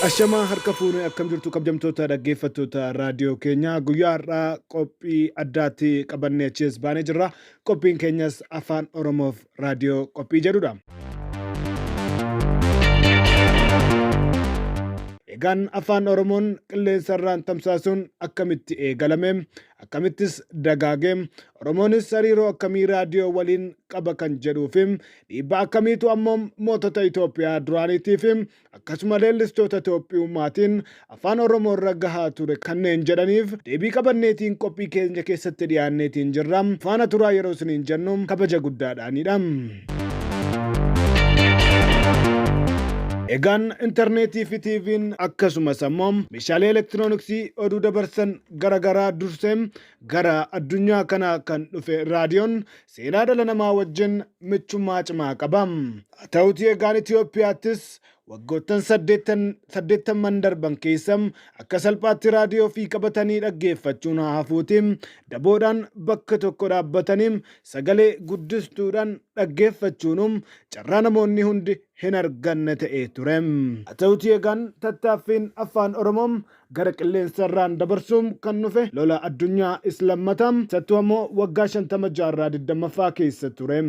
Ashamaa harka fuune akkam jirtu kabjamtoota dhaggeeffattoota raadiyoo keenya guyyaa har'aa qophii addaatti qabannee achiis baanee jirra. Qophiin keenyas afaan Oromoof raadiyoo qophii jedhudha. Egaan afaan Oromoon qilleensarraan tamsaasuun akkamitti eegalame? Akkamittis dagaage? Oromoonis hariiroo akkamii raadiyoo waliin qaba kan jedhuufi dhiibbaa akkamiitu ammoo mootota Itoophiyaa duraaniitiifi akkasuma leellistoota Itoophiyummaatiin Afaan Oromoorra gahaa ture kanneen jedhaniif deebii qabanneetiin qophii keenya keessatti dhiyaanneetiin jirra. Faana turaa yeroo isiniin jennu kabaja guddaadhaanidha. Egaan interneetiifi TVn akkasumas ammoo meeshaalee elektirooniksii oduu dabarsan gara garaa dursee gara addunyaa kanaa kan dhufe raadiyoon seenaa dhala namaa wajjin michummaa cimaa qaba. Haa ta'uutii egaan Itoophiyaattis waggoottan saddeettan saddeettamman darban keessa akka salphaatti raadiyoo ofii qabatanii dhaggeeffachuun haa hafuutii daboodhaan bakka tokko dhaabbatanii sagalee guddistuudhaan dhaggeeffachuunuu carraa namoonni hundi hin arganne ta'ee ture. Haa ta'uutii egaan tattaaffiin Afaan Oromoo gara qilleensarraan dabarsuun kan dhufe lola addunyaa is lammata sattuu ammoo waggaa 50 jaarraa 20ffaa keessa ture.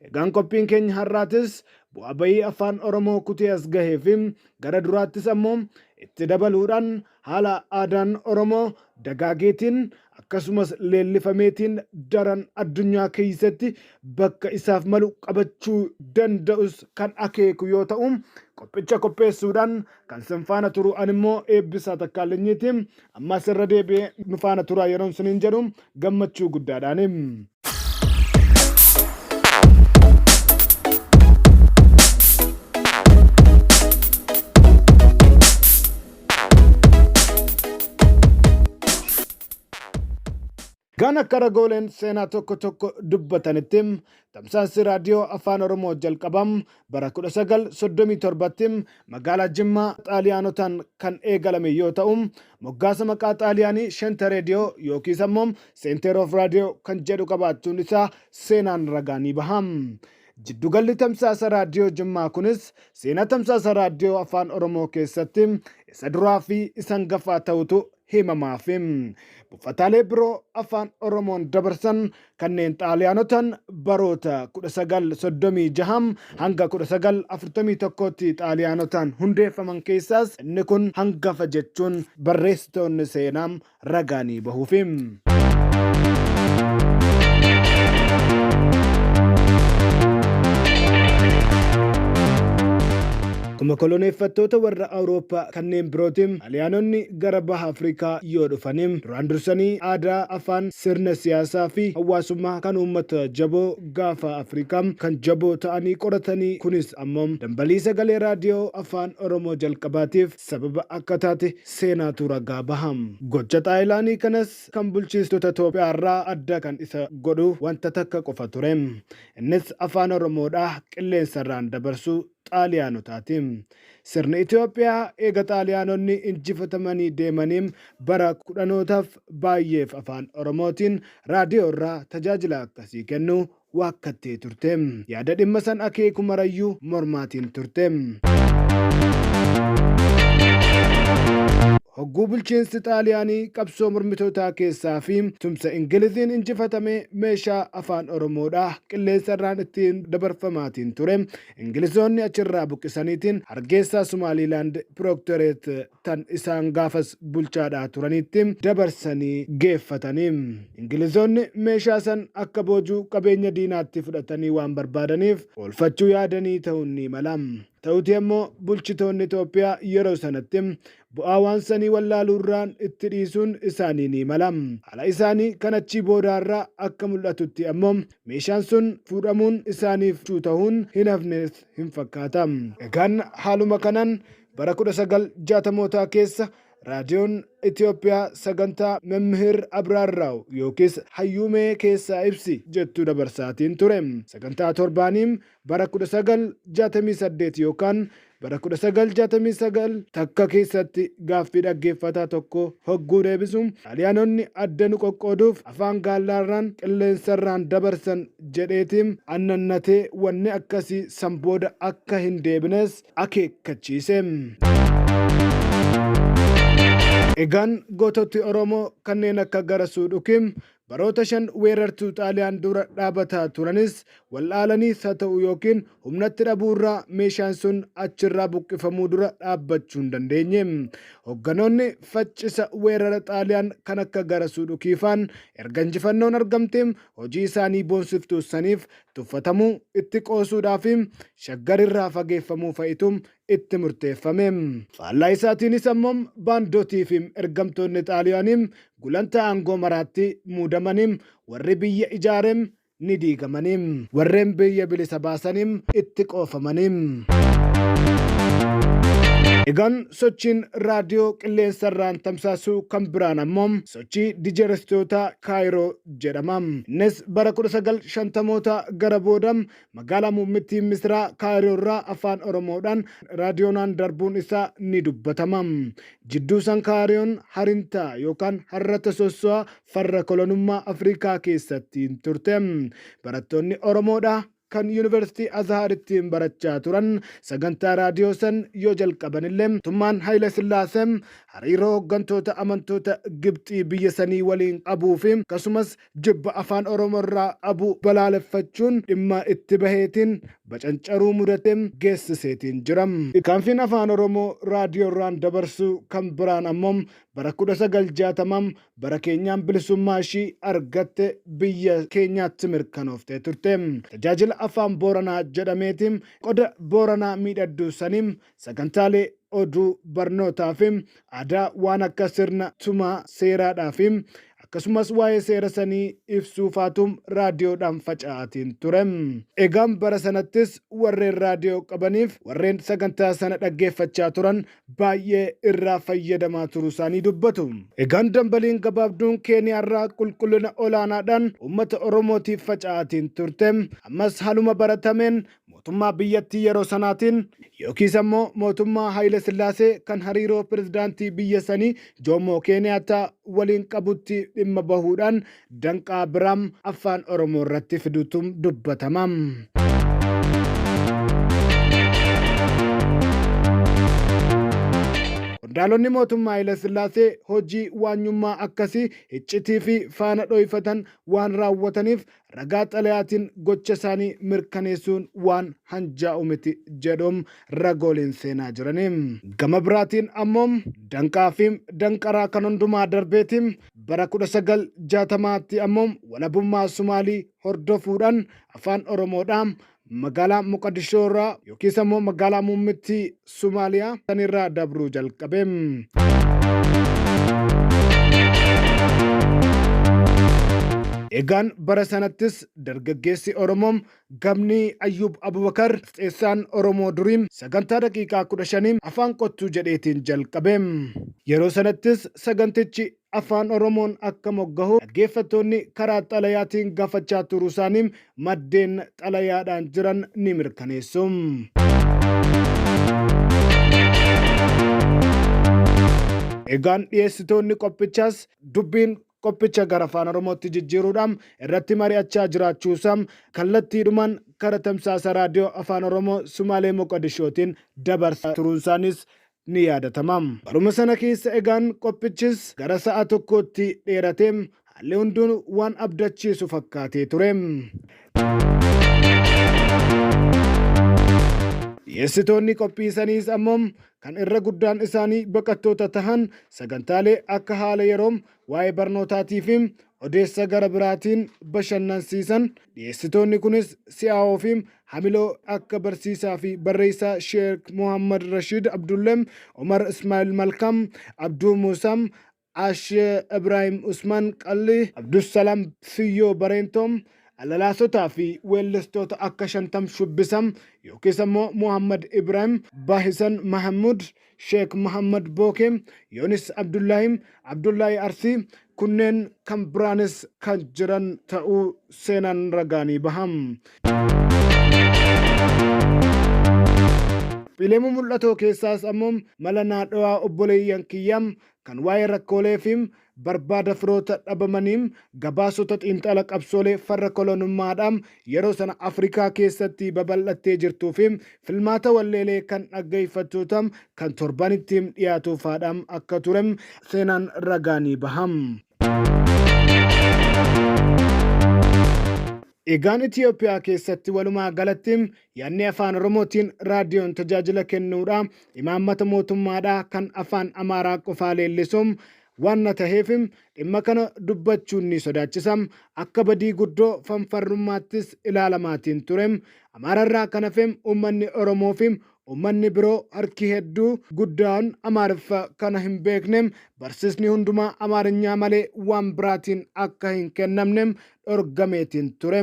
Egaan qophiin keenya har'aatis bu'aa bayii afaan Oromoo kutee as gahee fi gara duraattis ammoo itti dabaluudhaan haala aadaan Oromoo dagaageetiin akkasumas leellifameetiin daran addunyaa keessatti bakka isaaf malu qabachuu danda'us kan akeeku yoo ta'u qophicha qopheessuudhaan kan sin faana turu an immoo eebbisaa takkaallinyiiti ammas irra deebi'ee nu faana turaa yeroon siniin jedhu gammachuu guddaadhaani. Kan akka ragooleen seenaa tokko tokko dubbatanitti tamsaasni raadiyoo afaan Oromoo jalqaba bara 1937tti magaalaa Jimmaa Xaaliyaanotaan kan eegalame yoo ta'u, moggaasa maqaa Xaaliyaanii Shente Reediyoo yookiis ammoo Center of Radio kan jedhu qabaachuun isaa seenaan ragaa ni baha. Jiddugalli tamsaasa raadiyoo Jimmaa kunis seenaa tamsaasa raadiyoo Afaan Oromoo keessatti isa duraa fi isa hangafaa ta'utu himamaafi. Buufataalee biroo Afaan Oromoon dabarsan kanneen Xaaliyaanotaan baroota 1936 hanga 1941tti Xaaliyaanotaan hundeeffaman keessaas inni kun hangafa jechuun barreessitoonni seenaa ragaanii bahuufi. Akkuma koloneeffattoota warra Awurooppaa kanneen birootiin Xaaliyaanonni gara baha Afrikaa yoo dhufani duraan dursanii aadaa, afaan, sirna siyaasaa fi hawaasummaa kan uummata jaboo gaafa Afrikaa kan jaboo ta'anii qoratanii kunis ammoo dambalii sagalee raadiyoo afaan Oromoo jalqabaatiif sababa akka taate seenaatu ragaa baha. Gocha Xaayilaanii kanas kan bulchiistota Toophiyaarraa adda kan isa godhu wanta takka qofa ture. Innis Afaan Oromoodha qilleensarraan dabarsuu Xaaliyaanotaati. Sirni Itoophiyaa eega Xaaliyaanonni injifatamanii deemanii bara kudhanootaaf baay'eef Afaan Oromootiin raadiyoorraa tajaajila akkasii kennuu waakkattee turte. Yaada dhimma san akeeku marayyuu mormaatiin turte. Hogguu bulchiinsi Xaaliyaanii qabsoo mormitootaa keessaa fi tumsa Ingiliziin injifatame meeshaa Afaan Oromoodha qilleensa irraan ittiin dabarfamaatiin ture Ingilizoonni achirraa buqqisaniitiin Hargeessaa Sumaaliilaand Prooktoreet tan isaan gaafas bulchaadhaa turaniitti dabarsanii geeffatani. Ingilizoonni meeshaa san akka boojuu qabeenya diinaatti fudhatanii waan barbaadaniif oolfachuu yaadanii ta'uun ni mala. Ta'utii ammoo bulchitoonni Xoophiyaa yeroo sanatti bu'aa waan sanii wallaaluurraan itti dhiisuun isaanii ni mala. Haala isaanii kan achii boodaarraa akka mul'atutti ammoo meeshaan sun fuudhamuun isaaniif ta'uun hin hafnes hin fakkaata. Egaan haaluma kanaan Bara 1960mootaa keessa Raadiyoon Itoophiyaa sagantaa Memmihiir Abraarraaw yookiis Hayyuu Mee Keessaa Ibsi jettu dabarsaatiin ture. Sagantaa torbaanii bara 1968 yookaan bara 1969 takka keessatti gaaffii dhaggeeffataa tokkoo hogguu deebisu Xaaliyaanonni adda nu qoqqooduuf afaan gaallaarraan qilleensarraan dabarsan jedheeti annannatee wanni akkasii san booda akka hin deebines akeekkachiise. Egaan goototi Oromoo kanneen akka Garasuu Dhukiim baroota shan weerartuu Xaaliyaan dura dhaabataa turanis wal'aalaniis haa ta'u yookiin humnatti dhabuu irraa meeshaan sun achirraa buqqifamuu dura dhaabbachuu hin dandeenye. Hogganoonni faccisa weerara Xaaliyaan kan akka Garasuu Dhukiifaan erga injifannoon argamteem hojii isaanii boonsiftuu saniif tuffatamuu, itti qoosuudhaa fi Shaggar irraa fageeffamuu fa'itu itti murteeffame. Faallaa isaatiinis ammoo baandotii fi ergamtoonni Xaaliyaanii gulantaa aangoo maraatti muudamani, warri biyya ijaare ni diigamani. Warreen biyya bilisa baasani itti qoofamani. Egaan sochiin raadiyoo qilleensa irraan tamsaasu kan biraan ammoo sochii dijerestootaa Kaayiroo jedhama. Innis bara 1950moota gara booda magaalaa muummittii Misiraa Kaayiroo irraa Afaan Oromoodhaan raadiyoonaan darbuun isaa ni dubbatama. Jidduu san Kaayiroon harintaa yookaan harrata sosso'a farra kolonummaa Afrikaa keessatti turte. Barattoonni Oromoodhaa? kan Yunivarsitii Azharittiin barachaa turan sagantaa raadiyoo san yoo jalqabanillee mootummaan Hayila Sillaasee hariiroo hoggantoota amantoota Gibxii biyya sanii waliin qabuu fi akkasumas jibba Afaan Oromoo irraa qabu balaaleffachuun dhimma itti baheetiin bacancaruu mudate geessiseetiin jira. Tarkaanfiin Afaan Oromoo raadiyoorraan dabarsu kan biraan ammoo bara 1960 bara keenyaan bilisummaa ishii argatte biyya keenyaatti mirkanooftee turte. Tajaajila Afaan Booranaa jedhameeti qoda Booranaa miidhadduu sanii sagantaalee oduu, barnootaa fi aadaa waan akka sirna tumaa seeraadhaa fi akkasumas waa'ee seera sanii ibsuu faatu raadiyoodhaan faca'aatiin ture. Egaan bara sanattis warreen raadiyoo qabaniif warreen sagantaa sana dhaggeeffachaa turan baay'ee irraa fayyadamaa turuusaanii dubbatu. Egaan dambaliin gabaabduun Keeniyaarraa qulqullina olaanaadhaan uummata Oromootiif faca'aatiin turte ammas haaluma baratameen mootummaa biyyattii yeroo sanaatiin yookiis ammoo mootummaa Hayila Sillaasee kan hariiroo pirezidaantii biyya sanii Joomoo Keeniyaattaa waliin qabutti dhimma bahuudhaan danqaa bira Affaan Oromoo irratti fidutu dubbatama. Qondaalonni mootummaa Hayilasillaasee hojii waanyummaa akkasii hiccitii fi faana dhoyfatan waan raawwataniif ragaa xalayaatiin gocha isaanii mirkaneessuun waan hanjaa'u miti jedhu ragooleen seenaa jirani. Gama biraatiin ammoo danqaa fi danqaraa kan hundumaa darbeeti Bara 1960tti ammoo walabummaa Sumaalii hordofuudhaan afaan Oromoodhaa magaalaa Moqadishoo irraa yookiis ammoo magaalaa muummittii Sumaaliyaa san irraa dabruu jalqabe. Egaan bara sanattis dargaggeessi Oromoo Gamni Ayyuub Abubakar, gaazexeessaan Oromoo durii, sagantaa daqiiqaa 15 Afaan Kottuu jedheetiin jalqabe. Yeroo sanattis sagantichi Afaan Oromoon akka moggahu dhaggeeffattoonni karaa xalayaatiin gaafachaa turuusaanii maddeen xalayaadhaan jiran ni mirkaneessu. Egaan dhiyeessitoonni qophichaas dubbiin qophicha gara Afaan Oromootti jijjiiruudhaan irratti mari'achaa jiraachuusaa kallattiidhumaan kara tamsaasa Raadiyoo Afaan Oromoo Sumaalee Moqodishootiin dabarsaa turuunsaaniis ni yaadatama. Baruma sana keessa egaan qophichis gara sa'a tokkootti dheeratee haalli hunduu waan abdachiisu fakkaatee ture. Dhiyeessitoonni qophii saniis ammoo kan irra guddaan isaanii baqattoota tahan sagantaalee akka haala yeroo, waa'ee barnootaatii fi odeessa gara biraatiin bashannansiisan dhiyeessitoonni kunis si'aawoo fi hamiloo akka barsiisaa fi barreessaa Sheek Muhammad Rashiid Abdullee, Umar Ismaa'il Malkaam, Abduu Muusaa, Ash Ibraahim Usmaan Qallii, Abdusalaam Siyyoo Bareentoo, Alalaasotaa fi weellistoota akka Shantam Shubbisam yookiis ammoo Muhammad Ibraahim, Bahisan Mahammud, Sheek Muhammad Bookee, Yoonis Abdullaahii, Abdullaahii Arsii, kunneen kan biraanis kan jiran ta'uu seenaan ragaa ni baha. Qophiilee mumul'atoo keessaas ammoo Mala Naadhawaa Obboleeyyan Kiyyaa, kan waa'ee rakkoolee fi barbaada firoota dhabamanii gabaasota xiinxala qabsoolee farra kolonummaadhaa yeroo sana Afrikaa keessatti babal'attee jirtuu fi filmaata walleelee kan dhaggeeffattoota kan torbanitti dhiyaatu faadha akka ture seenaan ragaa ni baha. Egaan Itiyoophiyaa keessatti walumaa galatti Yaadni Afaan Oromootiin raadiyoon tajaajila kennuudha, imaammata mootummaadha, kan Afaan Amaaraa qofaa leellisu waanna taheef dhimma kana dubbachuun ni sodaachisa. Akka badii guddoo fanfarrummaattis ilaalamaatiin ture. Amaararraa kan hafe uummanni Oromoofi uummanni biroo harki hedduu guddaan Amaariffa kana hin beekne. Barsiisni hundumaa Amaarinyaa malee waan biraatiin akka hin kennamne dhorgameetiin ture.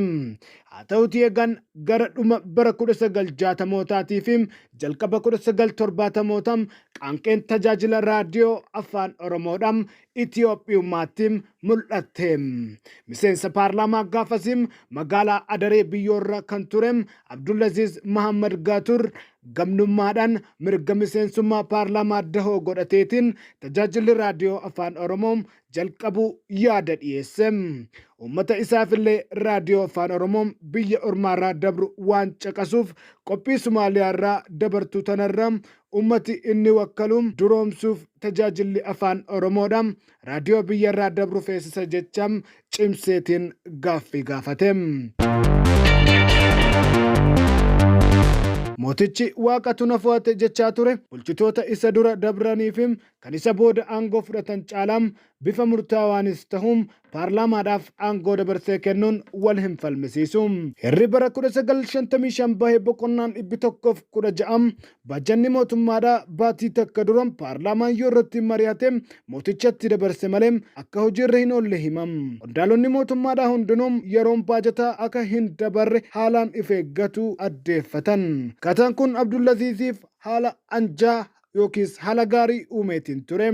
Haa ta'utii egaan gara dhuma bara 1960mootaatii fi jalqaba 1970mootaa qaanqeen tajaajila raadiyoo afaan Oromoodhaa Itiyoophiyummaatti mul'atte. Miseensa paarlaamaa gaafasii magaalaa Adaree biyyoorra kan ture Abdulaziz Mahammad Gaatur gamnummaadhaan mirga miseensummaa paarlaamaa dahoo godhateetiin tajaajilli raadiyoo afaan Oromoo jalqabuu yaada dhiyeesse. Uummata isaafillee raadiyoo afaan Oromoo biyya ormaarraa dabru waan caqasuuf qophii Sumaaliyaarraa dabartu tanarra uummati inni wakkalu duroomsuuf tajaajilli afaan Oromoodha raadiyoo biyyarraa dabru feesisa jecha cimseetiin gaaffii gaafate. Mootichi waaqatu na fo'ate jechaa ture bulchitoota isa dura dabraniif kan isa booda aangoo fudhatan caalaa bifa murtaawaanis tahu paarlaamaadhaaf aangoo dabarsee kennuun wal hin falmisiisu. Heerri bara 1955 bahe boqonnaan 116 baajanni mootummaadha baatii takka dura paarlaamaan yoo irratti mari'ate mootichatti dabarse malee akka hojiirra hin oolle hima. Qondaalonni mootummaadhaa hundinuu yeroon baajataa akka hin dabarre haalaan if eeggatu addeeffatan. Akkaataan kun Abdulaziiziif haala anjaa yookiis haala gaarii uumeetiin ture.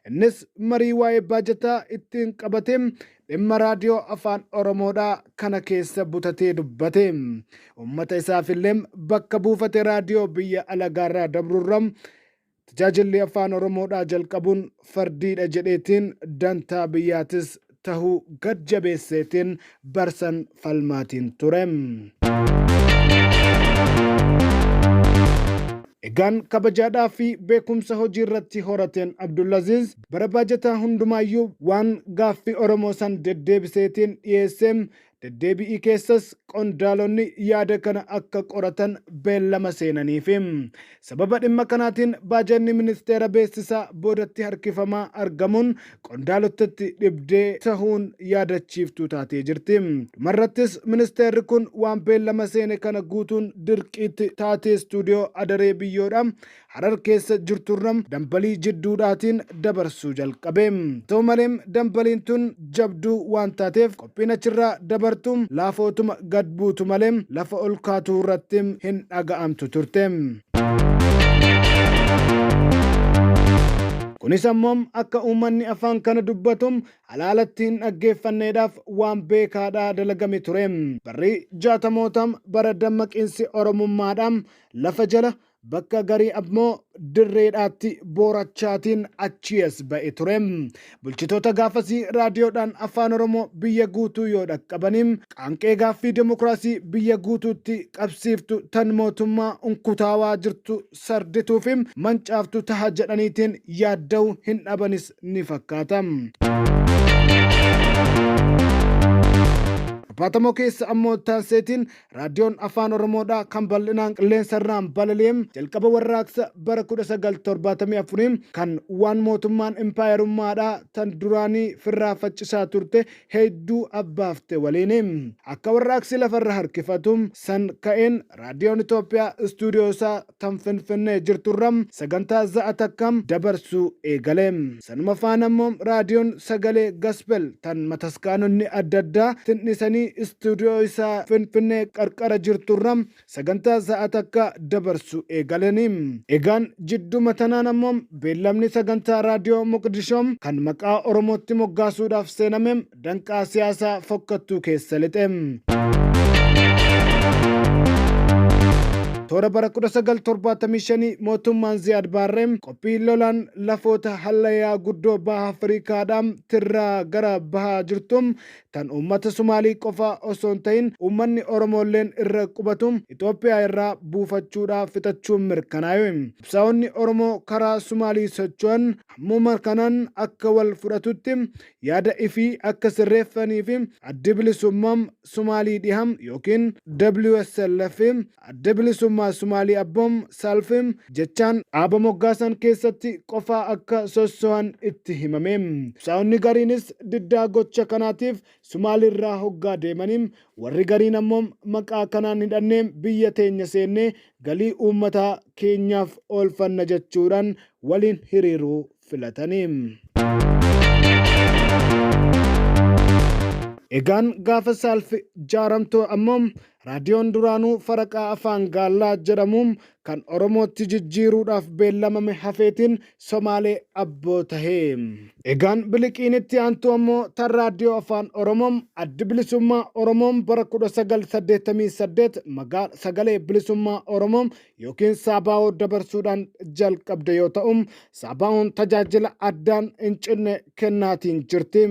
Innis marii waa'ee baajataa ittiin qabate dhimma raadiyoo afaan Oromoodhaa kana keessa butatee dubbate. Uummata isaafillee bakka buufate raadiyoo biyya alagaarraa dabrurra tajaajilli afaan Oromoodhaa jalqabuun fardiidha jedheetiin dantaa biyyaatis tahu gad jabeesseetiin barsan falmaatiin ture. Egaan kabajaadhaa fi beekumsa hojii irratti horateen Abdulaziz bara baajataa hundumaayyuu waan gaaffii Oromoo san deddeebiseetiin dhiyeessee Deddeebi'ii keessas qondaalonni yaada kana akka qoratan beellama seenaniifi. Sababa dhimma kanaatiin baajanni ministeera beeksisaa boodatti harkifamaa argamuun qondaalottatti dhibdee tahuun yaadachiiftuu taatee jirti. Dhumarrattis ministeerri kun waan beellama seene kana guutuun dirqiitti taatee istuudiyoo Adaree Biyyoodhaa Harar keessa jirturra dambalii jidduudhaatiin dabarsuu jalqabe. Haa ta'u malee, dambaliin tun jabduu waan taateef qophiin achirraa dabartu laafootuma gad buutu malee lafa ol kaatu irratti hin dhaga'amtu turte. Kunis ammoo akka uummanni afaan kana dubbatu alaalatti hin dhaggeeffanneedhaaf waan beekaadhaa dalagame ture. Barri jaatamoota bara dammaqiinsi Oromummaadhaa lafa jala Bakka garii ammoo dirreedhaatti boorachaatiin achii as ba'e ture. Bulchitoota gaafasii raadiyoodhaan afaan Oromoo biyya guutuu yoo dhaqqabanii qaanqee gaaffii demokraasii biyya guutuutti qabsiiftu tan mootummaa unkutaawaa jirtu sardituu fi mancaaftu taha jedhaniitiin yaadda'uu hin dhabanis ni fakkaata. Apaatamoo keessa ammoo taanseetiin Raadiyoon Afaan Oromoodhaa kan bal'inaan qilleensarraan balali'e jalqaba warraaqsa bara 1974 kan waan mootummaan impaayerummaadhaa tan duraanii firraa faccisaa turte heedduu abbaafte waliini. Akka warraaqsi lafarra harkifatu san ka'een Raadiyoon Itoophiyaa istuudiyoosaa tan Finfinnee jirturra sagantaa za'a takka dabarsuu eegale. Sanuma faana immoo Raadiyoon Sagalee Gaspel tan mataskaanonni adda addaa tindhisanii istuudiyoo isaa Finfinnee qarqara jirturra sagantaa za'a takka dabarsuu eegalani. Egaan jidduma tanaan ammoo beellamni sagantaa Raadiyoo Moqdishoo kan maqaa Oromootti moggaasuudhaaf seename danqaa siyaasa fokkattuu keessa lixe. Toora bara 1975 mootummaan Ziyaad Baarree qophii lolaan lafoota hallayaa guddoo baha Afrikaadhaa tirraa gara bahaa jirtu tan uummata Sumaalii qofa osoo hin ta'in uummanni Oromoolleen irra qubatu Itoophiyaa irraa buufachuudhaa fixachuun mirkanaa'e. Qabsaa'onni Oromoo karaa Sumaalii socho'an hammuma kanaan akka wal fudhatutti yaada ifii akka sirreeffanii fi Addi Bilisummaa Sumaalii Dhiha ykn WSLF, Adda Bilisummaa Sumaalii Abbo, SALF, jechaan dhaaba moggaasan keessatti qofaa akka sossohan itti himame. Qabsaa'onni gariinis diddaa gocha kanaatiif Sumaaliirraa hoggaa deemanii, warri gariin ammoo maqaa kanaan hidhannee biyya teenya seennee galii uummataa keenyaaf oolfanna jechuudhaan waliin hiriiruu filatani. Egaan gaafa Saalf jaaramtu ammoo raadiyoon duraanuu faraqaa afaan gaallaa jedhamu kan Oromootti jijjiiruudhaaf beellamame hafeetiin Somaalee abboo tahe. Egaan biliqiin itti aantu ammoo tan raadiyoo afaan Oromoo Addi Bilisummaa Oromoo bara 1988 magaal Sagalee Bilisummaa Oromoo yookiin Saabaa'oo dabarsuudhaan jalqabde yoo ta'u, Saabaa'oon tajaajila addaan hin cinne kennaatiin jirti.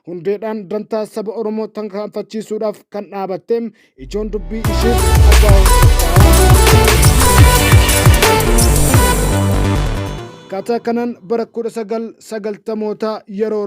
Hundeedhaan dantaa saba Oromoo tarkaanfachiisuudhaaf kan dhaabatte ijoon dubbii ishees Saabaa'oon Akkaataa kanaan bara 1990moota yeroo